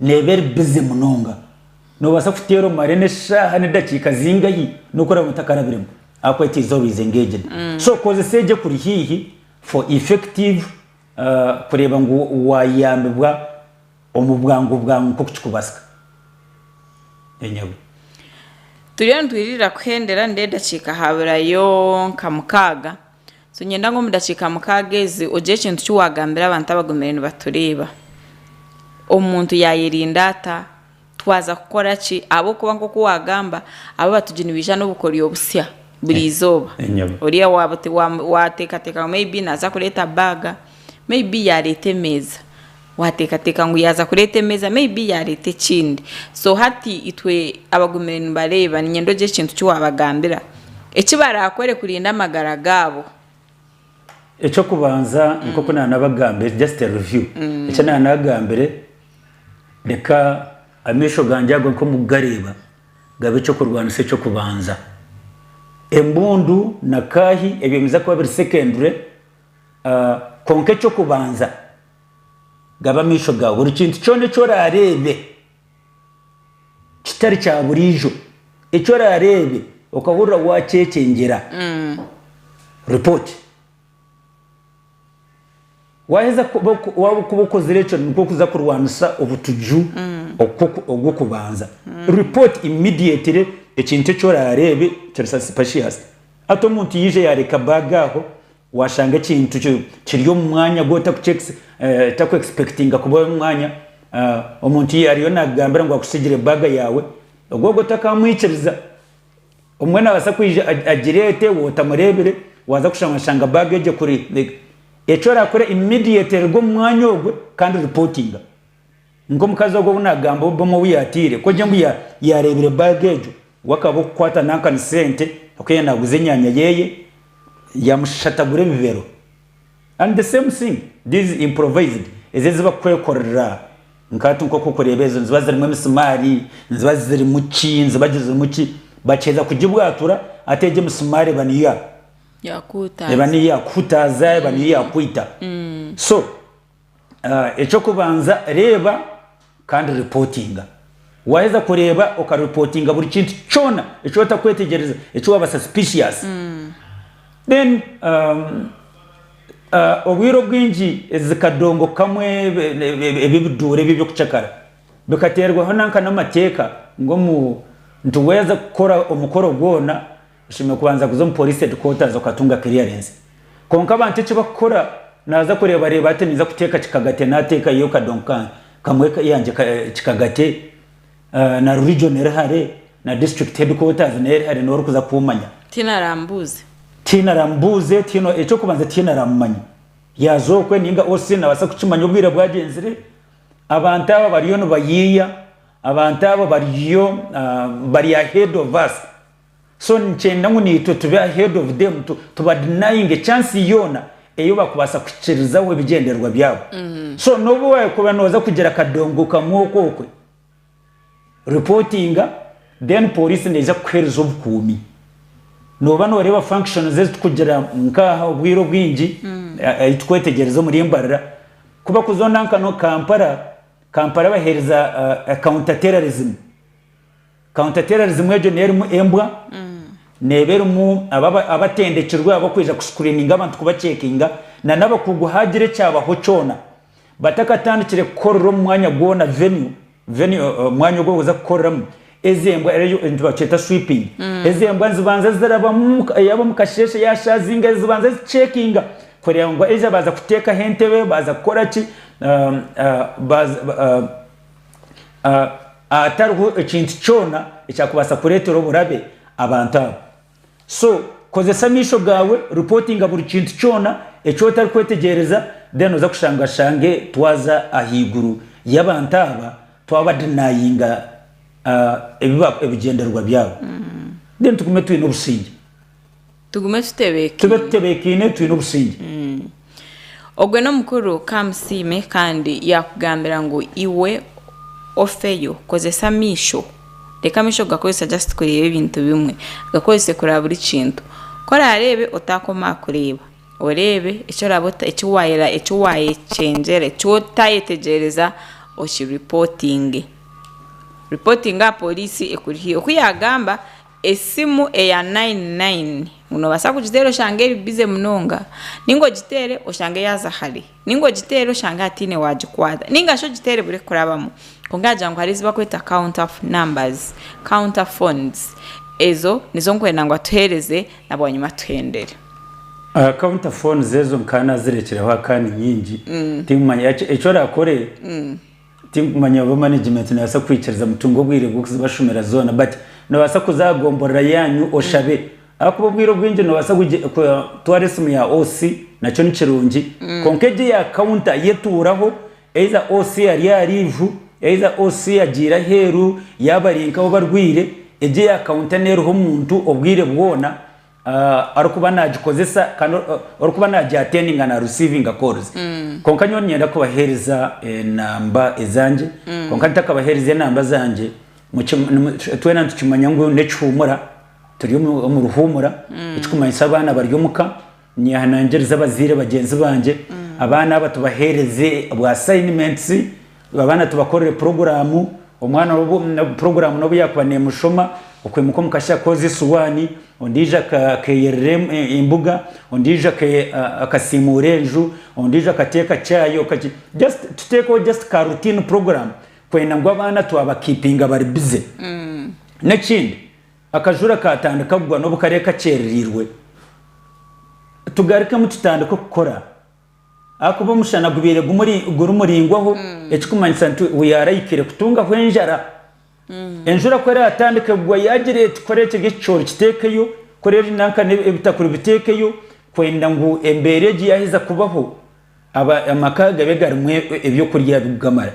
Neeba eri bize munonga. Noobaasa kuteera omare n'eshaaha n'edakiika zingahi n'oku oraabe otakarabiremu ahakuba teiza orwize ng'egyina. So kozesa egi ekuri haihi for effective kureeba ngu waayambibwa omu bwangu bwangu nk'oku kikubaasika. Enyabu. Turiyo nitwirira kuhendera nindeeba edakiika haaburayo nka mukaaga. So niinyenda ngu omu dakiika mukaaga ezi ogire ekintu ki waagambira abantu abagumire nibatureeba. Omuntu yaayerinda ata? Twaza kukora ki? Ahabw'okuba nk'oku waagamba, abo abatugi nibaija n'obukoryo busya buri izooba. Enyama. Oriya waaba waaba waateekateeka ngu may be naaza kureeta baaga, may be yaareeta emeeza. Wateekateeka ngu yaaza kureeta emeeza may be yaareeta ekindi. So hati itwe abagumire nibareeba, niinyenda ogire ekintu ki waabagambira eki baraakore kurinda amagara gaabo. Eky'okubanza nk'oku naanabagambire, just a review, eki naanagambire, reka amaisho gangye ago nk'omu kugareeba gabe eky'okurwanisa eky'okubanza. Embundu na kaahi ebyo nibiza kuba biri secondary, kwonka eky'okubanza Gaba amaisho gaawe buri kintu kyona eki oraareebe kitari kya buriijo, eki oraareebe okahurira waakyekyengyera. Ripooti. Waaheza waaba okozire ekyo nikwo kuza kurwanisa obutuju obw'okubanza. Ripooti immediately ekintu eki oraareebe, kyebisa suspicious. Hati omuntu yaija yaareka baaga aho, Washanga ekintu kiri omu mwanya gu otaku expectinga kuba omu mwanya, omuntu ya ariyo nakugambira ngu akusigire bag yawe, ogwo ogwo otakamwikiriza. Omwe nabasa kwija agirete we otamurebire, waza kushanga oshanga bag egyo ekuri. Eki orakore immediate ruga omu mwanya ogwe kandi reportinga. Nk'omukazi ogwo ou naagamba obumwe ou yaataire, kwo gye ngu yaareebire baaga egyo, we akaba ow'okukwata nanka ni sente ahabw'okuba yaabaire naaguza enyaanya ye, yaamushatagura ebibero. And the same thing these improvised, ezo ezi barikwekorera nka hati nk'oku orikureeba ezo niziba zirimu emisimaari, niziba zirimu ki, niziba zirimu ki, bakiheza kugibwatura hati egyo emisimaari eba niyo yaakuhutaaza, eba niyo yaakwita. So. Eky'okubanza, reeba kandi ripootinga. Waaheza kureeba okaripootinga buri kintu kyona eki otakwetegyereza, eki waabaasa suspicious. Then obwire obwingi ezi kadongo kamwe ebi ebiduura ebi eby'okucakara bikateerwaho nanka n'amateeka ngu omu nti waaheza kukora omukoro gwona, Oshemereire kubanza kuza omu Police Headquarters okatunga clearance. Kwonka abantu eki bakukora naza kureeba reeba ati ninza kuteeka kikagate nateeka yo kadongo ka kamwe yangye ka kikagate na religion eri hare na district headquarters nayo eri hare niwe orikuza kumanya. Tiine arambuuze. Tiine aramubuuze tiine ekyokubanza tiine aramumanya yaza okwe ninga OC nabasa kukimanya obwire bwagyenzire. Abantu aba bariyo nibayiiya abantu aba bariyo bari ahead of us. So nikyenda ngu naitwe tube ahead of them tu tuba denyinge chance yoona eyi bakubaasa kuhikirizaho ebigyendererwa byabo. So nobu wakuba noza kugira akadongo kamwe oku okwe reportinga then police neija kukuhereza obukuumi. Noba noreeba functions ezi tukugira nkaha obwire obwingi ayi tukwetegyereza omuri embarira ku bakuzonda nka no Kampala, Kampala bahereza counter terrorism. Counter terrorism egyo niyo erimu embwa, neeba erimu abo abatendekirwe ab'okwija ku screeninga abantu ku ba checkinga na n'abakugu haagira ekyabaho kyona. Batakatandikire kukorera omu mwanya gwona, venue, venue, omwanya ogu barikuza kukoreramu, ezo embwa, nibakyeta sweeping, ezo embwa nizibanza zirabamu, yaaba omu kasheeshe yaashaazinga zibanza zi checkinga kureba ngu either baaza kuteekaho entebe, baaza kukora ki, baaza, hatariho ekintu kyona ekyakubaasa kureetera oburabe abantu abo. So kozesa amaisho gaawe, reportinga buri kintu kyona eki otari kwetegyereza, then oza kushanga oshange twaza ahaiguru y'abantu aba, twaba denyinga ebigyendererwa byabo, then tugume twine obusingye. Tugume tutebeekaine. Tube tutebeekaine twine obusingye. Ogwe n'omukuru ka amusiime kandi yaakugambira ngu iwe ofeyo, kozesa amaisho. Reka amaisho gakozese just kureeba ebintu bimwe. Gakozese kureba buri kintu. Ku oraareebe otaakoma aha kureeba. Oreebe eki oraabe ota eki waayera eki waayekyengyera eki otaayetegyereza okiripotinge. Ripotinge aha pooriisi ekuri haihi. Oku yaagamba. Esimu eya nayini nayini ngu noobaasa kugiteera oshange eri bize munonga, nainga ogiteere oshange yaaza hare, nainga ogiteere oshange hataine waagikwata, nainga shi ogiteere ebure kukurabamu. Kwonka yaagira ngu hariho ezi barikweta counter numbers, counter phones, ezo nizo ndikwenda ngu atuheereze na bwanyima tuhendere. Counter phones ezo nkaba naazirekireho akaani nyingi, tinkumanya eki oraakore. Tinkumanya oba management nebasa kukwikiriza mutunge obwire bwokuzibashomera zoona but nobasa kuza aha gomborora yanyu oshabe ahakuba obwire obwingi nobasa kutwara esimu ya OC nakyo nikirungi kwonka egyo eya counter yo etuuraho either OC ari aha leave either OC agiire aheeru yaba ari nkawe obarwiire egyo eya counter neruho omuntu obwire bwoona. arikuba nagikozesa kandi orikuba nagi attendinga na receiving calls konka nyowe ninyenda kubahereza enamba ezange konka ntakabaherize enamba zange twena nitukimanya ngu nekihumura turi omu ruhumura ekikumanyisa abaana bari omuka nyehanangiriza abazaire bagyenzi bangye abaana aba tubahereze bwa assignments Abaana tubakorere puroguraamu, omwana puroguraamu n'obu yaakuba neemushoma, okwimuka omu kasheeshe akooze esuwaani, ondiijo akeeyerera embuga, ondiijo akasiimuura enju, ondiijo akateeka chai, just tuteekeho just ka routine program kwenda ngu abaana twabakiipinga bari busy. N'ekindi akajura kaatandika kugwa n'obu kare kakyereriirwe, tugarukemu tutandike kukora. Ahakuba omushana gubaire guri muraingwaho ekikumanyisa nti we yaaraihikire kutungaho enjara. Enjura ku eraatandika kugwa yaagira eti kora ekiri ekicoori kiteekeyo, kora ebinanka n'ebitakuri biteekeyo kwenda ngu embeera egi yaaheza kubaho amaka gabe garimu eby'okurya bikugamara.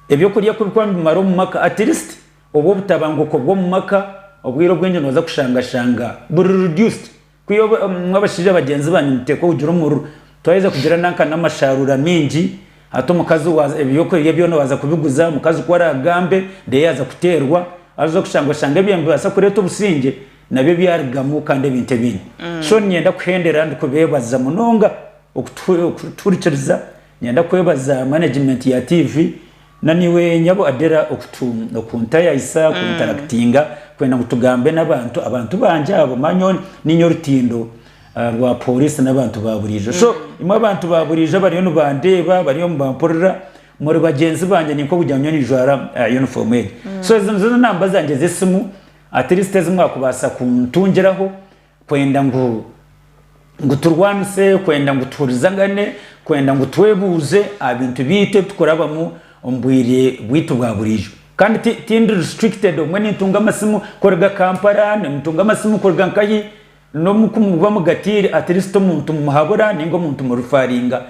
Eby'okurya ku bikuba nibimara omu maka at least obwo obutabanguko bw'omu maka obwire obwingi nooza kushanga shanga buri reduced. Ku iwe oba omu abashaija bagyenzi banyu muteeka obugira omururu, twayeza kugira nanka n'amasharuura mingi, hati omukazi waaza ebyokurya byona waaza kubiguza, omukazi ku araagambe reero yaaza kuteerwa, aza kushanga oshanga ebyo nibibaasa kureeta obusingye nabyo byarugamu kandi ebintu ebindi. So niinyenda kuhendera ndikubeebaza munonga okutuhu okutuhurikiriza, niinyenda kwebaza management ya tiivi, Naniwe nyabo Adela okutu okuntayayisa kuntarakitinga kwenda ngu tugambe nabantu abantu bangye abo ma nyowe niinya orutindo rwa police nabantu ba buriijo so imwe abantu ba buriijo abariyo nibandeeba bariyo nibampurira muri bagyenzi bangye ninka okugira ngu nyowe ninjwara uniform egi so ezo nizo namba zangye zesimu at least ezimwakubaasa kuntungiraho kwenda ngu ngu turwanise, kwenda ngu tuhurizagane, kwenda ngu twebuuze aha bintu byaitu ebi tukurabamu omu bwire bwaitu bwa buriijo. Kandi ti tindi restricted obumwe nintunga amasimu kuruga Kampala, nintunga amasimu kuruga nkahi, n'omu ku muba mugatiire at least omuntu mumuhabura ninga omuntu mu referringa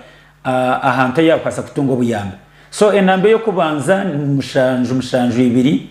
ahantu ahu yakubaasa kutunga obuyambi. So enamba ey'okubanza ni mushanju mushanju ibiri.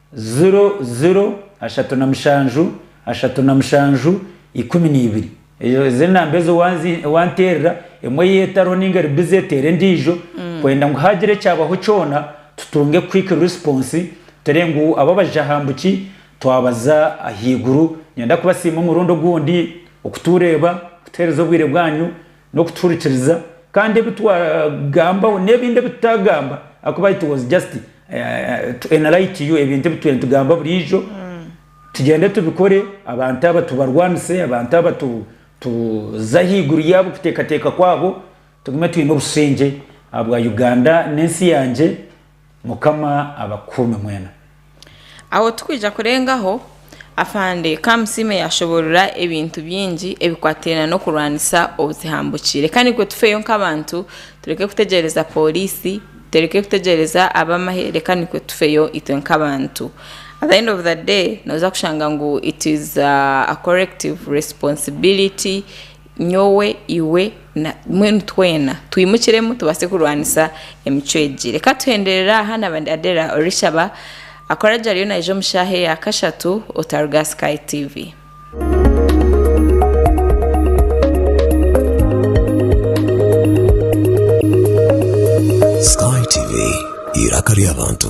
Ziro, ziro, ashatu na mushanju, ashatu na mushanju, ikumi na ibiri. Ezo ezo enamba ezo wanzi wanteerera emwe ei etariho ninga eri busy teera endiijo kwenda ngu haagira ekyabaho kyona tutunge quick response turebe ngu abo abaija aha mbu ki twabaza ahaiguru. Niinyenda kubasiima omurundi ogundi okutureeba, kutuheereza obwire bwanyu. n'okutuhurikiriza kandi ebi twagambaho n'ebindi ebi tutaagamba ahakuba it was just to enlight you ebintu ebi turiyo nitugamba buriijo tugyende tubikore abantu aba tubarwanise abantu aba tuze ahaiguru yaabo okuteekateeka kwaabo tugume twine obushengye ahabwa Uganda n'ensi yangye. Mukama abakuume mwena. Aho tikwija kurengaho, Afande Kamusiime yaashoboorora ebintu bingi ebikwataine n'okurwanisa obutihambukye. Reka naitwe tufeeyo nk'abantu, tureke kutegyereza pooriisi, tureke kutegyereza ab'amahe, reka naitwe tufeeyo itwe nk'abantu. At the end of the day, nooza kushanga ngu it is a corrective responsibility Nyowe, iwe, na mbwenu twena twimukiremu tubaase kurwanisa emicwe egi. Reka tuhenderere aha na bandi Adera orishaba akora gye ariyo naija omu shaaha eya kashatu otaruga aha Sky TV. Sky TV, eiraka ry'abantu.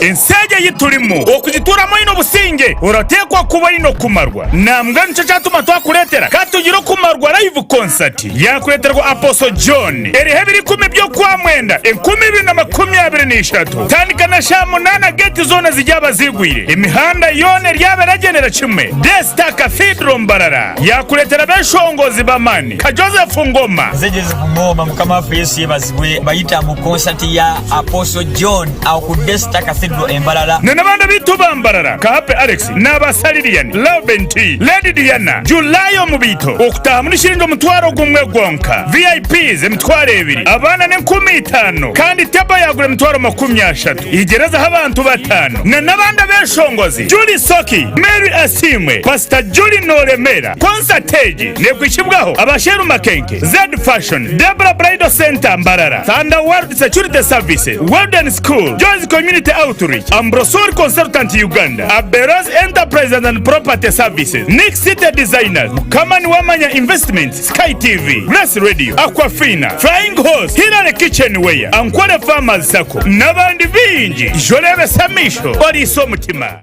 Ensi egi ei turimu okugituuramu oine obusingye, orateekwa kuba oine okumarwa. Nambwenu nikyo kyatuma twakureetera ka tugire okumarwa live concert yaakureeterwa Apostle John eriho ebiro ikumi by'okwa mwenda enkumi ibiri na makumi abiri na ishatu kutandika na shaaha munaana geeti zoona ziryaba ziigwire, emihanda yoona eryaba eragyendera kimwe. Day Star Cathedral Mbarara yaakureetera abeshongozi b'amaani nka Joseph Ngoma, Bwe bayita ngu konsati ya Apostle John aho ku Daystar Cathedral e Mbarara. Na n'abandi abaitu ba Mbarara nka Happy Alex n'aba Salirian, Lauben T, Lady Diana, July omu baito okutahamu ni shiringi omutwaro gumwe gwonka, VIPs emitwaro ebiri, abaana n'enkumi itaano kandi table yagura emitwaro makumi ashatu igyerezeho abantu bataano. Na n'abandi abeshongozi Julie Soki, Mary Asiimwe, Pastor Julie Noremeera. Konsati egi nekwitsibwaho aba Sheru Makenke. Zed Fashion, Debra Bridal Centre Mbarara, Thunder World Security Services, Golden School, Joy's Community Outreach, Ambrosol Consultant Uganda, Aberoz Enterprises and Property Services, Nick City Designers, Mukama Niwamanya Investments, Sky TV, Grace Radio, Aquafina, Flying Horse, Hillary Kitchenware, Ankole Farmers Sacco n'abandi baingi. Ija oreebese amaisho, oriise omutima.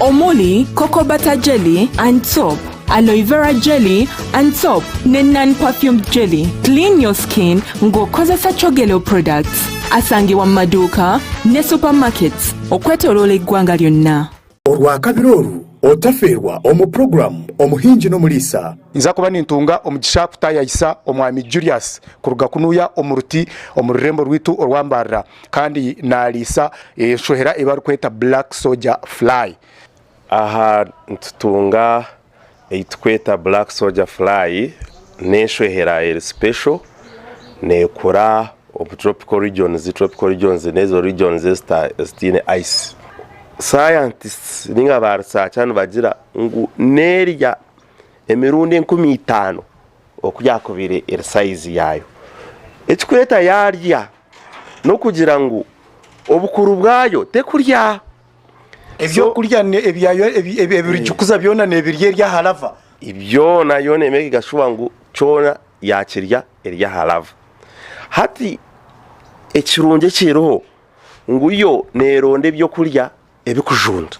omuri Cocoa Butter Jelly and Soap, Aloe Vera Jelly and Soap ne Non Perfumed Jelly. Clean your skin nga okozesa Chogeleo products. Asangibwa mu maduuka ne supermarkets okwetoroora eggwanga lyonna. Orwakabiri oru otafeerwa omu puroguramu Omuhingi n'Omuriisa. Nza kuba nintunga omugisha kutaayayisa Omwami Julius kuruga kunuuya omu ruti omu rurembo rwaitu orwambarira. kandi naariisa enshohera ei barikweta black soldier fly. Aha nitutunga ei turikweta black soldier fly, n'enshohera eri special, neekura omu tropical regions, tropical regions n'ezo regions ezitaine ice. Scientists ninga ba researcher nibagira ngu neerya emirundi enkumi itaano oku yakubaire eri sayizi yaayo. Ekirikweta yaarya n'okugira ngu obukuru bwayo terikurya. Ebyokurya ebirigikuza byona neebirya eri aha lava? Byona yo neemekinga shuwa ngu kyona yaakirya eri aha lava. Hati ekirungi ekiriho ngu yo neeronda ebyokurya. ebikujunda.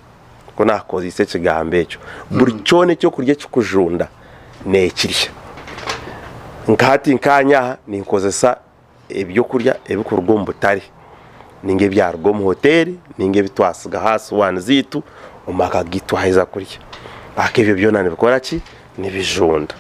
Nikwo naakukozeisa ekigambo ekyo. Buri kyona ekyokurya ekikujunda neekirya. Nka hati nkaanye aha ninkozesa ebyokurya ebikuruga omu butare nainga ebyaruga omu hoteeri nainga ebi twatsiga aha siwaani zaitu omu maka gaitu twaheza kurya. Ebyo byona nibikora ki? nibijunda.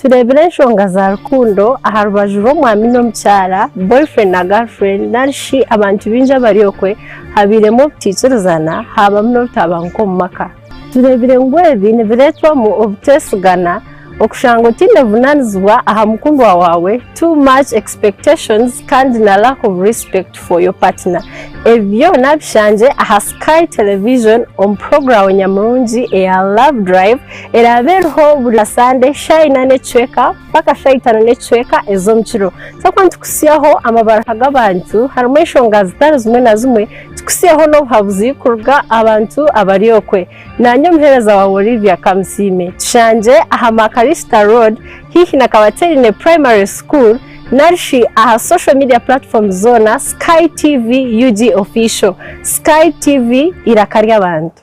Tureebire enshonga za rukundo aha rubaju rw'omwami n'omukyara, boyfriend na girlfriend, nari shi abantu baingi abari okwe, habairemu obutaikirizana, haabamu n'obutabanguko omu maka. Tureebire ngu ebi nibireetwamu obuteesigana. Okushanga otiine buvunanizibwa aha mukundwa waawe, too much expectations kandi na lack of respect for your partner. Ebi byona bishangye aha Sky Television omu puroguramu nyamurungi eya Love Drive eraabe eriho buri Sande shaaha ina n'ekicweka mpaka shaaha itaano n'ekicweka ez'omu kiro. Twakuba nitukutsyaho amabaruha g'abantu harimu enshonga zitari zimwe na zimwe, tukutsyeho n'obuhabuzi kuruga aha bantu abari okwe. Naanye omuheereza waawe Olivia Kamusiime tushangire aha Makarista Road haihi na Kabateerine Primary School nari shi aha social media platforms zoona Sky TV UG Official. Sky TV, eiraka ry'abantu.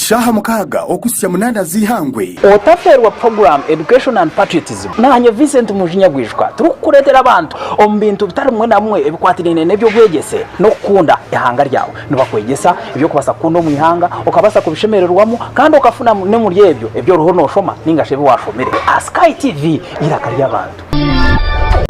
Shaaha mukaaga okuhitsya munaana z'eihangwe. Otaferwa Program, Education and Patriotism. Naanye Vincent Munju Nyabwijuka turikukureetera abantu omu bintu bitari bimwe na bimwe ebikwatiraine n'eby'obwegyese n'okukunda eihanga ryawe. Nibakwegyesa eby'okubaasa kukunda omu ihanga, okabaasa kubishemererwamu kandi okafuna n'omuri ebyo ebi oriho nooshoma nainga shi ebi waashomire. Aha Sky TV, eiraka ry'abantu.